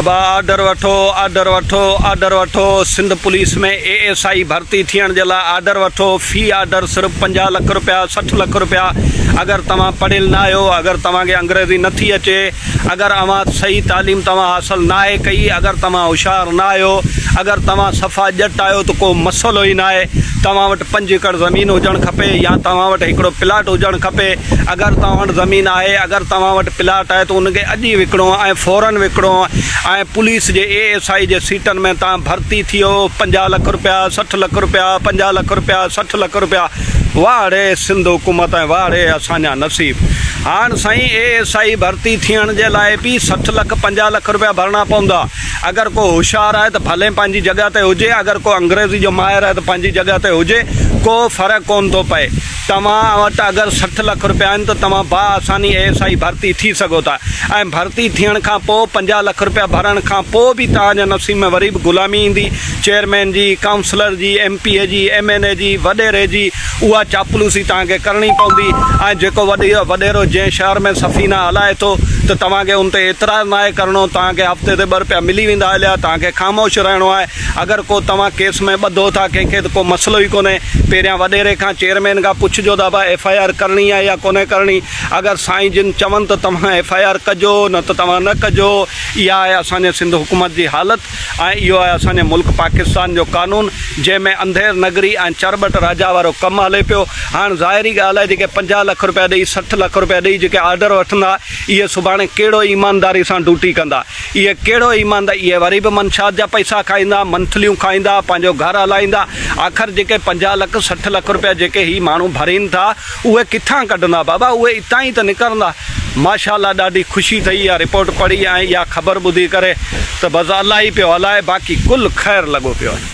بابا آرڊر وٺو آرڊر وٺو آرڊر وٺو Sindh police ۾ A S I ڀرتي ٿيڻ جي لاء آرڊر وٺو في آرڊر صرف پنجاهه لک رپيا سٺ لک رپيا اگر توهان پڙهيل نه آهيو اگر توهان کي انگريزي نٿي اچي اگر اوهان صحيح تعليم توهان حاصل ناهي ڪئي اگر توهان هوشيار نه آهيو اگر توهان صفا ڄٽ آهيو ته ڪو مسئلو ئي ناهي توهان وٽ پنج ايڪڙ زمين هجڻ کپي يا توهان وٽ هڪڙو پلاٽ هجڻ کپي اگر توهان وٽ زمين آهي اگر توهان وٽ پلاٽ آهي ته ان کي اڄ ئي وڪڻو ۽ فورن وڪڻو ۽ پوليس جي اي ايس آئي جي سيٽن ۾ توهان ڀرتي ٿيو پنجاهه لک رپيا سٺ لک رپيا پنجاهه لک رپيا سٺ لک رپيا واهه ڙي سنڌ حڪومت ۽ واهه ڙي اسان جا نصيب هاڻ سائين اي ايس آئي ڀرتي ٿيڻ جي لاء به سٺ لک پنجاهه لک رپيا ڀرڻا پوندا اگر ڪو هوشيار آهي ته ڀلي پنهنجي جڳهه تي هجي، اگر ڪو انگريزي جو ماهر آهي ته پنهنجي جڳهه تي هجي، ڪو فرق ڪونه ٿو پئي. توهان وٽ اگر سٺ لک رپيا آهن ته توهان باآساني اي ايس آئي ڀرتي ٿي سگهو ٿا ۽ ڀرتي ٿيڻ کان پوء پنجاهه لک رپيا ڀرڻ کان پوء به توهان جي نصيب ۾ وري به غلامي ايندي، چيئرمين جي، ڪائونسلر جي، ايم پي اي جي، ايم اين اي جي، وڏيري جي. اها چاپلوسي توهان کي ڪرڻي پوندي ۽ جيڪو وڏيرو جنهن شهر ۾ سفينه هلائي ٿو ته توهان کي ان تي اعتراض ناهي ڪرڻو، توهان کي هفتي تي ٻه روپيا ملي ويندا هليا، توهان کي خاموش رهڻو آهي، اگر ڪو توهان ڪيس ۾ ٻڌو ٿا ڪنهن کي ته ڪو مسئلو ئي ڪونهي، پهريان وڏيري کان چيئرمين کان پڇجو ته ابا ايف آء آر ڪرڻي آهي يا ڪونهي ڪرڻي، اگر سائين جن چون ته توهان ايف آء آر ڪجو نه ته توهان نه ڪجو، اها آهي اسان جي سنڌ حڪومت جي حالت. ۽ اهو آهي اسان جي ملڪ پاڪستان جو قانون جنهن ۾ انڌير نگري ۽ چرٻٽ راجا وارو ڪم هلي پيو. هاڻ ظاهري ڳالهه آهي جيڪي پنجاهه لک رپيا ڏئي سٺ لک رپيا ڏئي جيڪي آرڊر وٺندا اهي سڀاڻي ڪهڙو ايمانداري سان ڊوٽي ڪندا اهي ڪهڙو ايماند اهي وري به منشات جا پئسا کائيندا منٿليون کائيندا پنهنجو گهر هلائيندا آخر جيڪي پنجاهه لک سٺ لک رپيا جيڪي هي ماڻهو ڀرين ٿا اهي ڪٿان ڪڍندا بابا اهي اتان ئي ته نڪرندا. ماشاءالله ڏاڍي خوشي ٿئي اها رپورٽ پڙهي ۽ اها خبر ٻڌي ڪري ته بس الله ئي پيو هلائي باقي ڪل خير لڳو پيو آهي.